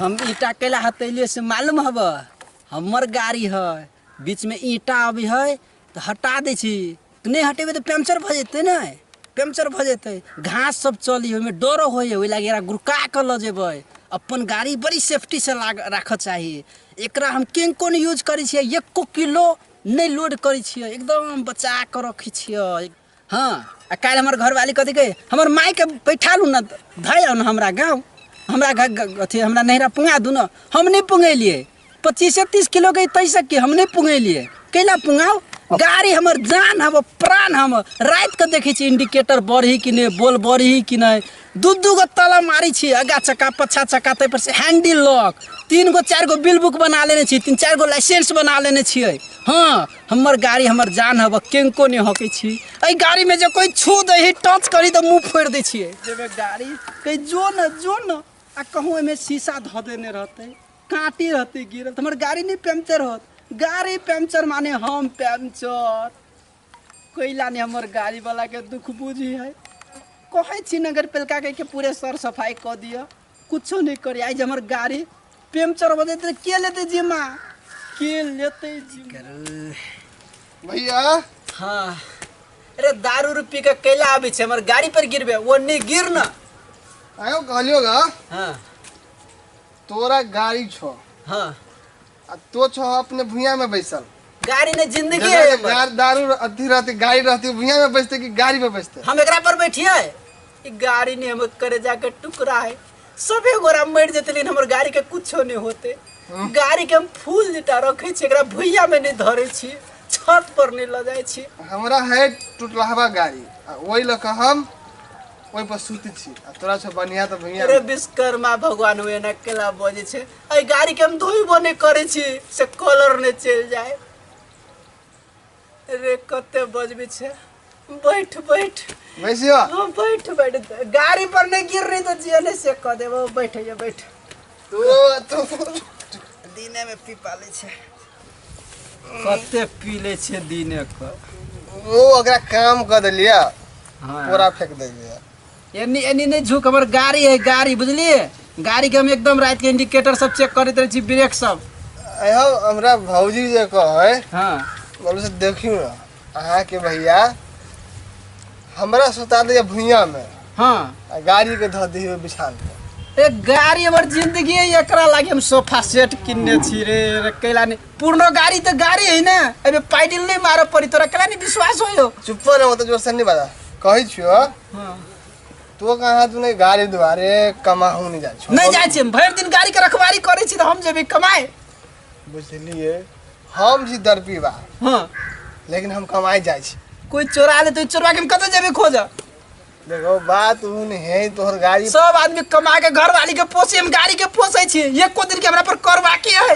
हम ईटा कैला हतैले से मालूम हब हमर गाड़ी है बीच में ईटा अभी है तो हटा दै छी तो नहीं हटेबे तो पंचर भऽ जेतै ने पंचर भऽ जेतै घास सब चली ओहिमे डरो होइए ओहि लागी एकरा गुड़का कऽ लऽ जेबै अपन गाड़ी बड़ी सेफ्टी से लाग राखऽ चाही एकरा हम किनको नहि यूज करै छियै एको किलो नहि लोड करै छियै एकदम बचा कऽ रखै छियै हँ आ काल्हि हमर घरवाली कथी कहै हमर मायके बैठा लू ने धै आउ ने हमरा गाँव हमरा घ- घ- अथी हमरा नैहरा पुंगा दू ने हम नहि पुंगेलियै पच्चीसे तीस किलो के तैसे की हम नहि पुंगेलियै कैला पुंगाउ गाड़ी हमर जान हम प्राण हम राति के देखै छी इंडिकेटर बढ़ी कि नहि बोल बढ़ी कि नहि दू दू गो ताला मारी छी आगा चक्का पछा चक्का ताहि पर से हैंडल लॉक तीन गो चार गो बिल बुक बना लेने छी तीन चार गो लाइसेंस बना लेने छियै हाँ हमर गाड़ी हमर जान हब केंको नहीं हके छी एहि गाड़ी में जो कोई छू दे ही टच करी तो मुंह फोड़ दे छियै जेबे गाड़ी कहीं जो न जो न आ कहूँ एहिमे शीशा धऽ देने रहतै काँटी रहतै गिरल तऽ हमर गाड़ी नहि पंचर होत गाड़ी पंचर माने हम पंचर कोइला ने हमर गाड़ी वाला के दुख बुझी है कहे छी नगर पेलका के के पूरे सर सफाई क दियो कुछो नहीं करे आज हमर गाड़ी पेमचर बजे ते के लेते जिम्मा के लेते जिम्मा भैया हाँ अरे दारू उरू पी के कैला आबे छे हमर गाड़ी पर गिरबे वो नहीं गिर ना आयो कहलियो गा हाँ तोरा गाड़ी छो हाँ आ तो छो अपने भुइया में बैसल गाड़ी ने जिंदगी है जगह हमर। गार- दारू अथी रहती गाड़ी रहती भुइया में बैसते कि गाड़ी में बैसते हम एकरा पर बैठिए ई गाड़ी ने हमर करेजा के टुकड़ा है सबे गोरा मर जेते लेकिन हमर गाड़ी के कुछो नहीं होते गाड़ी के हम फूल जिता रखे छी एकरा भुइया में नहीं धरे छी छत पर नहीं ल जाए छी हमरा है टुटलाहवा गाड़ी आ ओहि लऽ कऽ हम ओहि पर सुति छी आ तोरा छो बढ़िया तऽ भुइया अरे में। विश्वकर्मा भगवान हुए ना केला बजे छे अरे गाड़ी के हम धोइबो नहीं करे छी से कलर नहीं चल जाए रे कते बजबी छे बैठ बैठ बैसियो हाँ बैठ बैठ गाड़ी पर नहीं गिर रही तो जिया नहीं से कह देबो बैठ ये बैठ तू तू दिने में पी पाले छे कते पी ले छे दिने क ओ ओकरा काम कर देलिया हाँ पूरा फेंक देलिया एनी एनी नहीं झुक हमर गाड़ी है गाड़ी बुझलिए गाड़ी के हम एकदम रात के इंडिकेटर सब चेक करते रहे छी ब्रेक सब अहो हमरा भौजी जे कहे हाँ बोलो से देखियो ना अहाँ के भैया हमरा सुता दिया भुइया में हाँ आ गाड़ी के धऽ दियो बिछान पर ए गाड़ी हमर जिंदगी है एकरा लागे हम सोफा सेट किनने छी रे रे कैला नहीं पुरनो गाड़ी तो गाड़ी है ना एमे पाइडिल नहीं मारऽ पड़ी तोरा कैला नहीं विश्वास होयो चुप रहो तो जोर से नहीं बजा कहै छियो हाँ। तो कहाँ तू नहीं गाड़ी दुआरे कमाहू नहीं जाए नहीं जाए छी भर दिन गाड़ी के रखवारी करे छी तो हम जेबे कमाए बुझलिए हम जी दर्पी बा हाँ लेकिन हम कमाए जाए छी कोई चोरा ले तो चोरा के हम कत जेबे खोज देखो बात उन है तोहर गाड़ी सब आदमी कमा के घर वाली के पोसे हम गाड़ी के पोसे छी एको दिन के हमरा पर कर बाकी है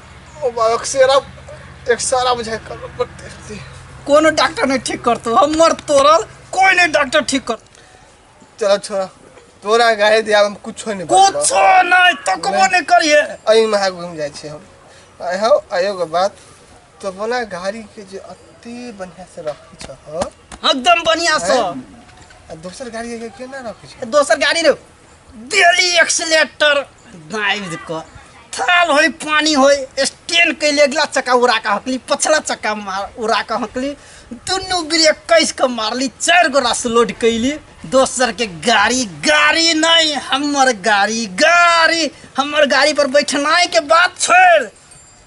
अक्सरा एक्सरा बुझाइ करबे पड़ते रहते कोनो डॉक्टर नहीं ठीक करतो हमर तोरल कोई नहीं डॉक्टर ठीक कर चलो छोरा तोरा गाय दिया हम कुछो नहीं बचलो। कुछो नहीं तकबो नहीं करिए अई महा घूम जाइ छी हम आय हौ आयो के बात तो बोला गाड़ी के जे अति बढ़िया से रखी छ हो एकदम बढ़िया से आ दोसर गाड़ी के केना रखी छ दोसर गाड़ी रे डेली एक्सीटर दाबि कऽ थाल होइ पानी होइ स्टेन कैले अगिला चक्का उड़ा कऽ हकली पछला चक्का मार उड़ा कऽ हकली दुनू ब्रेक कैस कऽ मारली चारि गो रास लोड कैली दोसर के गाड़ी गाड़ी नहीं हमर गाड़ी गाड़ी हमर गाड़ी पर बैठनाई के बात छोड़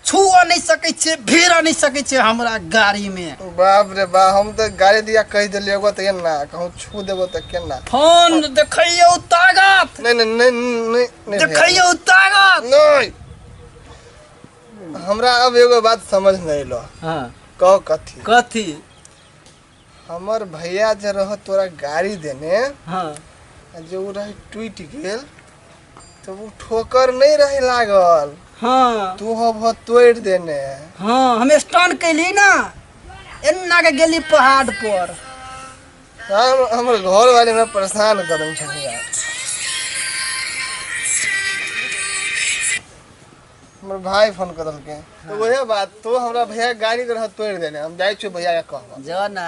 छुआ नहीं सके छे भेरा नहीं सके छे हमरा गाड़ी में बाप रे बा हम तो गाड़ी दिया कह दिलिए एगो तो ना कहूँ छू देबो तो केना फोन देखियो ताकत नहीं नहीं नहीं नहीं नहीं भैया। देखियो ताकत नहीं हमरा अब एगो बात समझ नहीं लो हाँ कहो कथी कथी हमर भैया जे रह तोरा गाड़ी देने हाँ आ जे उ रहे टूट गेल तो उ ठोकर नहीं रहे लागल हाँ तू हो भो तोड़ देने हाँ हम स्टन कैली ना एना के गेली पहाड़ पर हम हमर घर वाले हमरा परेशान करन छन यार हमर भाई फोन कर देलके तो वही बात तो हमरा भैया के गाड़ी के रह तोड़ देने हम जाई छी भैया के कहबा जो ना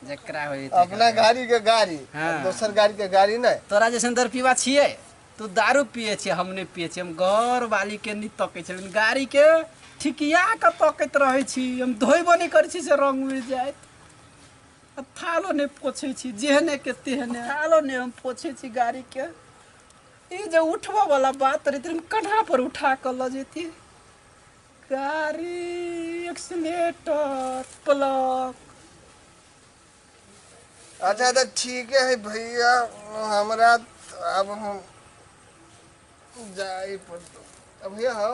जकरा होई ते अपना गाड़ी के गाड़ी हाँ। दोसर गाड़ी के गाड़ी नहीं तोरा जैसन दर पीवा छिए तू दारू पिए छिए हम नहीं पिए छिए हम घर वाली के नहीं तकै छलिन गाड़ी के ठिकिया के तकैत रहै छी हम धोइबो नहीं करै छी से रंग उड़ि जाइत आ थालो नहीं पोछै छी जेहने के तेहने थालो नहीं हम पोछै छी गाड़ी के ई जे उठबऽ वाला बात रहै तरी कन्हा पर उठा कऽ लऽ जेती गाड़ी एक्सीटर प्लग अच्छा तो ठीक है भैया हमरा त- अब हम जाए पड़तो अब भैया हो